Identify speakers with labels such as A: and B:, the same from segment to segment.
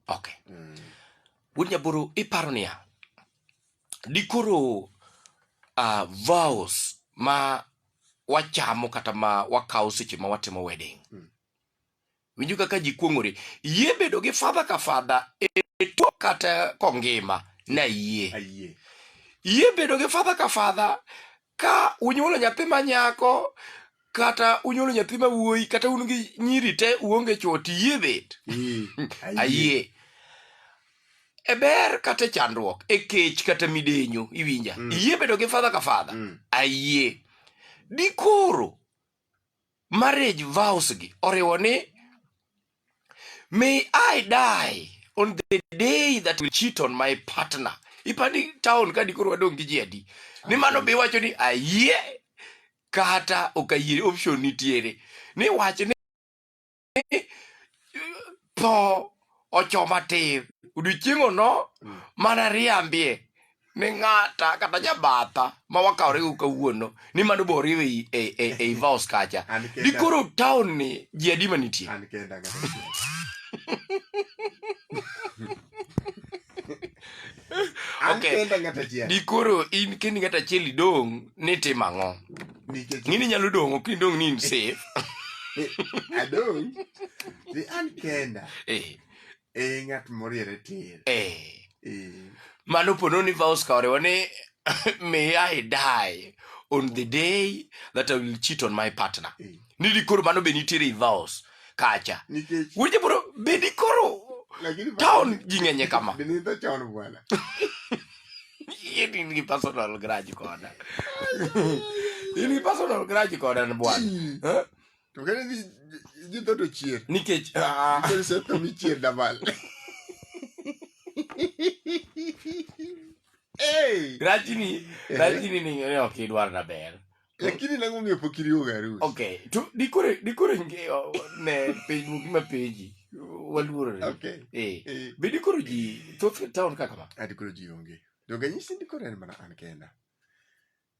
A: okay mm. wuod nyaboro iparo niya dikoro uh, ah, vows ma wachamo kata ma wakawo seche ma watimo wedding mm. winjo kaka ji kuong'ore yie bedo gi fadha ka fadha e tuo kata kongima na yie yie bedo gi fadha ka fadha ka unyuolo nyathi ma nyako kata unyuolo nyathi ma wuoyi kata un gi nyiri te uonge chwo tiyie bet Mm. ayie e ber kata e chandruok e kech kata midenyo iwinja Mm. iyie bedo gi fadha ka fadha Mm. ayie dikoro marriage vows gi oriwo ni may I die on the day that will cheat on my partner ipani town ka dikoro wadong' gi ji adi ni mano be iwacho ni ayie kata ok ayie option nitiere ni wach ni tho ochoma tir odiochieng'o no mm. mana riambie ni ng'ata kata jabatha ma wakawore go kawuono ni mano bo oriw e, e, e, e vaos kacha dikoro taon ni ji adi ma
B: nitie
A: dikoro in kendi ng'at achiel idong' ni tim ang'o nikech ng'ini nyalo dong' ok indong' ni in safe
B: adong ni an kenda eh e ng'at moriere tir eh Eh,
A: mano pono ni vows ka oriwo ni may i die on the day that i will cheat on my partner eh. ni dikoro mano be nitiere i vows kacha nikech weche bro bedi koro lakini town ji ng'enye kama binidho chon bwana in gi personal grudge koda in gi personal grudge koda n bwana Eh? to kane
B: dhi dhi dho to chier nikech ah,
A: nikech seto
B: michier dabal
A: Hey! grudge ni grudge ni ni ni ok idwar na ber lakini nango omiyo
B: pok iriwoga arus okay to dikore
A: dikore ngeyo ne piny moko ma peji waluorore okay eh,
B: eh. be dikoro
A: ji thoth town kaka ma ah, dikoro ji onge
B: donge nyisi ndikoro en mana an kenda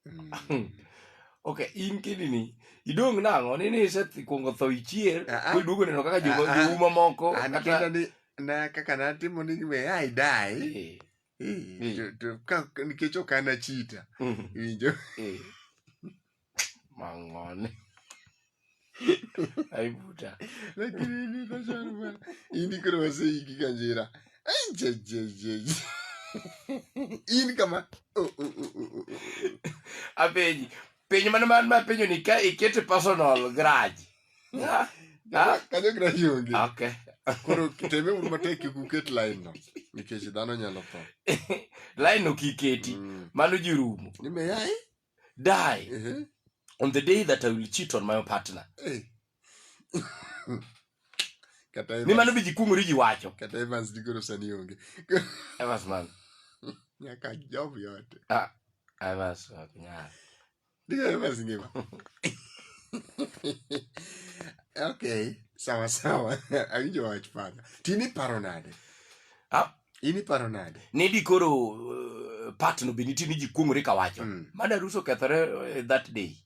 B: mm. hmm.
A: ok in kidini idong' nang'o ni ni isekwongo tho ichier ah, ah. koduogo neno kaka jouma moko
B: kaka natimo ni we ai dai eh. Eh, Eh. to- to- ka- nikech ok an achita Mhm. iwinjo Eh.
A: mang'one aibuta lakini ni
B: kashan bwana ini koro waseiki kanjira Ai, je, je, je, je. in kama oh, oh, oh, oh, oh,
A: oh. apenji penjo mane man mapenjo ni ka ikete personal grudge Ah,
B: ah. kanyo gina yonge okay koro
A: teme
B: uru matek kik uket line no nikech dhano nyalo tho line no
A: kiketi mm. mano ji rumo nimeyai
B: die uh
A: -huh. on the day that i will cheat on my own partner hey. ni mano biji kung'ori ji wacho kata evans digoro
B: sani onge evans man
A: nyaka
B: job yote ah, evans
A: ok nyal Ndio
B: basi ngema. Okay, sawa sawa. Awinjo wach pana. Tini paro nade? Ah, ini paro nade? Ni di koro uh,
A: eh, part no beniti ni jikuongore kawacho. Mm. Mana ruso kethore uh, that day.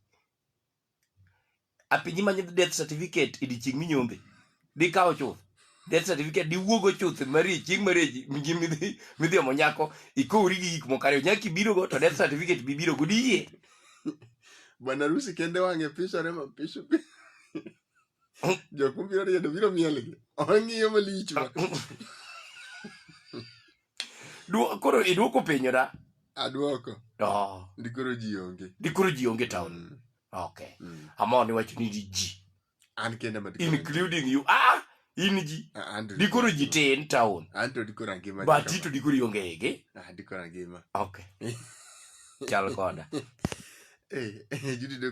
A: apinyi manyo death certificate e dichieng minyombe dikawo chuth death certificate diwuogo chuth mari chieng mari mji midhi midhi omo nyako ikowri gi gik moko ariyo nyaka ibiro go to death certificate bi biro go diyie
B: bwana rusi kende wang'e pisore ma pisu jok mobiro riedo biro mielgi ong'iyo malich ma
A: Duo- koro iduoko penyo da aduoko
B: oh. ndikoro ji onge ndikoro ji onge town
A: Mm. okay mm. amor ni wacho ni ji an kende ma
B: including you
A: ah in ji ah, dikoro ji tin town an to dikoro angima
B: but to dikoro ionge
A: ege ah dikoro angima okay chal koda eh, eh judi